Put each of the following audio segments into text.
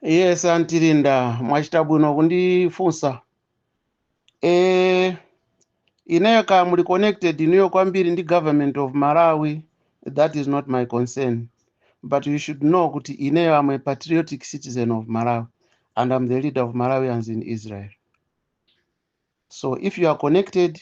yes Anti Linda mwachita bwino kundifunsa e, ineyo kaya muli connected inuyo kwambiri ndi government of malawi that is not my concern but you should know kuti ineyo am a patriotic citizen of malawi and am the leader of malawians in israel so if you are connected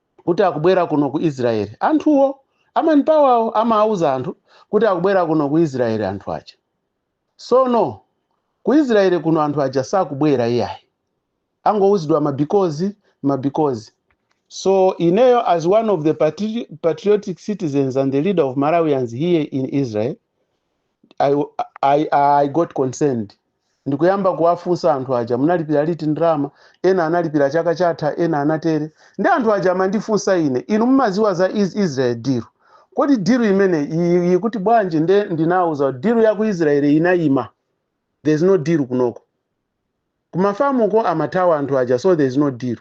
kuti akubwera kuno ku Israel. Anthuwo a Manpower-wo amawuza anthu kuti akubwera kuno ku Israel anthu aja. Sono ku Israel kuno anthu aja sakubwera iyayi. Angowuzidwa ma because ma because. So ineyo as one of the patri patriotic citizens and the leader of Malawians here in Israel I, I, I got concerned ndikuyamba kuwafunsa anthu aja munalipira liti ndalama ena analipira chaka chatha ena anatere ndi anthu aja amandifunsa ine inu mumaziwa za Is- israel deal kodi deal imeneyi ikuti bwanji nde ndinawauza deal ya ku israel inayima there's no deal kunoko Ku ma farm ko amathawa anthu aja so there is no deal.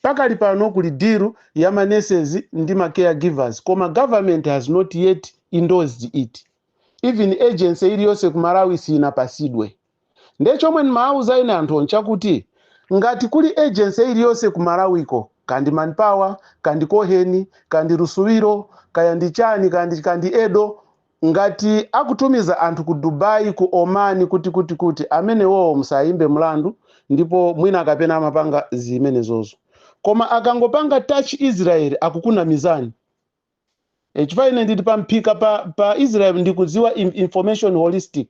Pakali pano kuli deal ya ma nurses ndi ma care givers koma government has not yet endorsed it. Even agency iliyonse ku Malawi siyinapasidwe. Nde chomwe ndimawauza ine anthuwo nchakuti ngati kuli agency iliyonse ku Malawi ko kaya ndi Manpower, kaya ndi Cohen, kaya ndi Lusuwiro, kaya ndi chani kaya ndi kaya ndi edo, Ngati akutumiza anthu ku Dubai ku Oman kuti kuti kuti amenewowo musawaimbe mlandu ndipo mwina kapena amapanga zimenezozo koma akangopanga touch Israel akukunamizani chifukwa ine ndili pa mphika pa Israel ndikudziwa information holistic.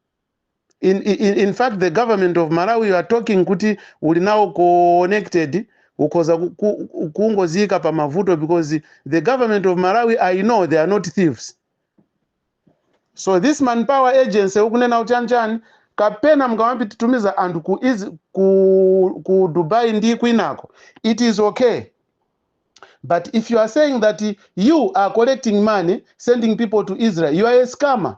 in, in, in fact the government of malawi you are talking kuti uli nawo connected ukhoza ku- ku- kungoziyika pa mavuto because the government of malawi i know they are not thieves so this manpower agency ukunena uchanichani kapena mukamawatumiza anthu ku, Iz- ku, ku dubai ndi kwinako it is okay but if you are saying that you are collecting money sending people to israel you are a scammer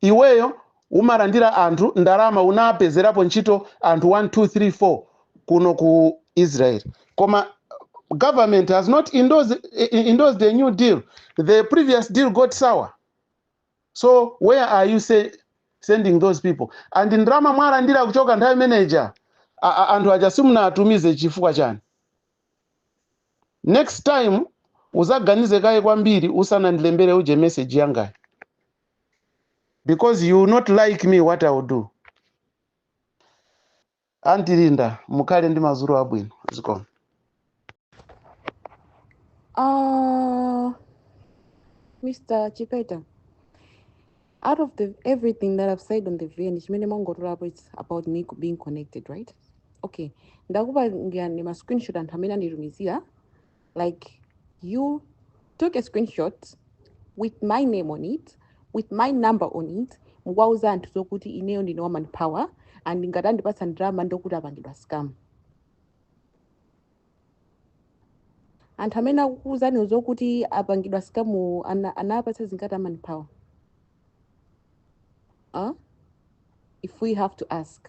Iweyo umarandira anthu ndarama unapezerapo ntchito anthu 1 2 3 4 kuno ku Israel koma government has not endorsed, endorsed a new deal the previous deal got sour so where are you say, sending those people and ndarama mwarandira kuchoka nthawi imeneja anthu aja simunatumize chifukwa chani next time uzaganize kaye kwambiri usanandilembere uje message yangayi because you will not like me what I will do anti linda mukhale ndi madzulo abwino zikomo Uh, Mr. Chipeta, out of everything that I've said on the VN, chimene mwangotolapo it's about me co- being connected, right? Okay. Ndakupangirani ma screenshot anthu amene anditumizira like you took a screenshot with my name on it with my number on it mukwauza anthu zokuti ineyo ndine wa manpower and ngati andipatsa ndalama ndokuti apangidwa scam anthu amene akukuuzani zokuti apangidwa scam ana- anawapatsa zingati a manpower huh? if we have to ask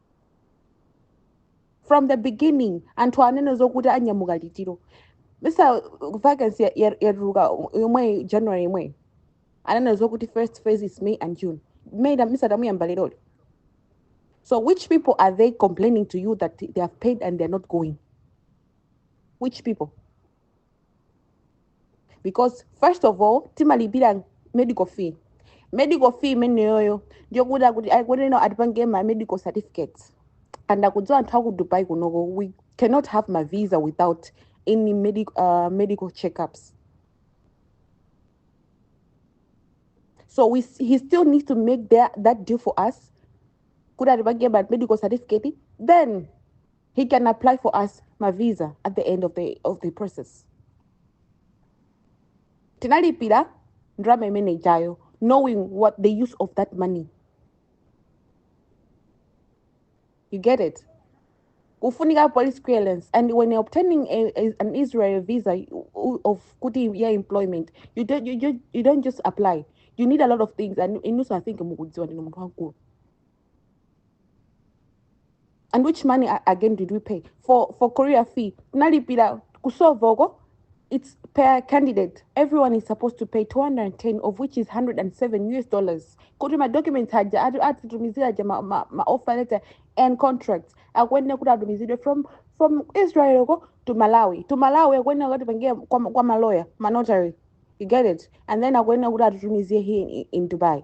from the beginning anthu anena zokuti anyamuka liti Mr. vacancy ya- ya- yatuluka yomweyi january yomweyi anena zokuti first phase is may and june may na- Mr. tamuyamba leroli so which people are they complaining to you that they have paid and they're not going which people because first of all timalipira medical fee medical fee imeneyoyo ndiyokuti akuti aikuonena atipange ma medical certificates and akudziwa anthu aku dubai kunoko we cannot have ma visa without any medic, uh, medical checkups so we, s- he still needs to make that, that deal for us kuti atipange ma medical certificate then he can apply for us ma visa at the end of the, of the process tinalipira ndalama imene ijayo knowing what the use of that money you get it kufunika police clearance and when you're obtaining a, a, an israel visa you- u- of kuti ya employment you don't, you, you, you don't just apply you need a lot of things and inunso i think mukudziwa ndinu munthu wamkulu and which money again did we pay for for courier fee tinalipira kusovoko it's per candidate everyone is supposed to pay 210 of which is 107 us dollars kuti madocuments aja ati- atitumizira aja ma, ma, ma offer letter and contracts akuyenera kuti atumizidwe from from israel uko to malawi to malawi akuyenera kutipangira kwa, ma- kwa maloya manotary you get it and then akuyenera kuti atitumizire here in, in dubai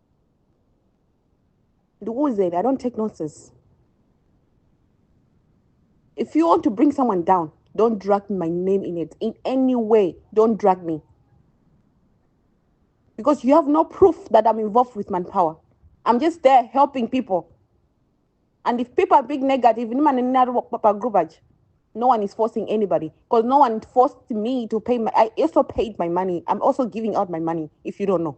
ndikuuzeni i don't take nonsense if you want to bring someone down don't drag my name in it in any way don't drag me because you have no proof that i'm involved with manpower i'm just there helping people and if people are being negative group no one is forcing anybody because no one forced me to pay my i also paid my money i'm also giving out my money if you don't know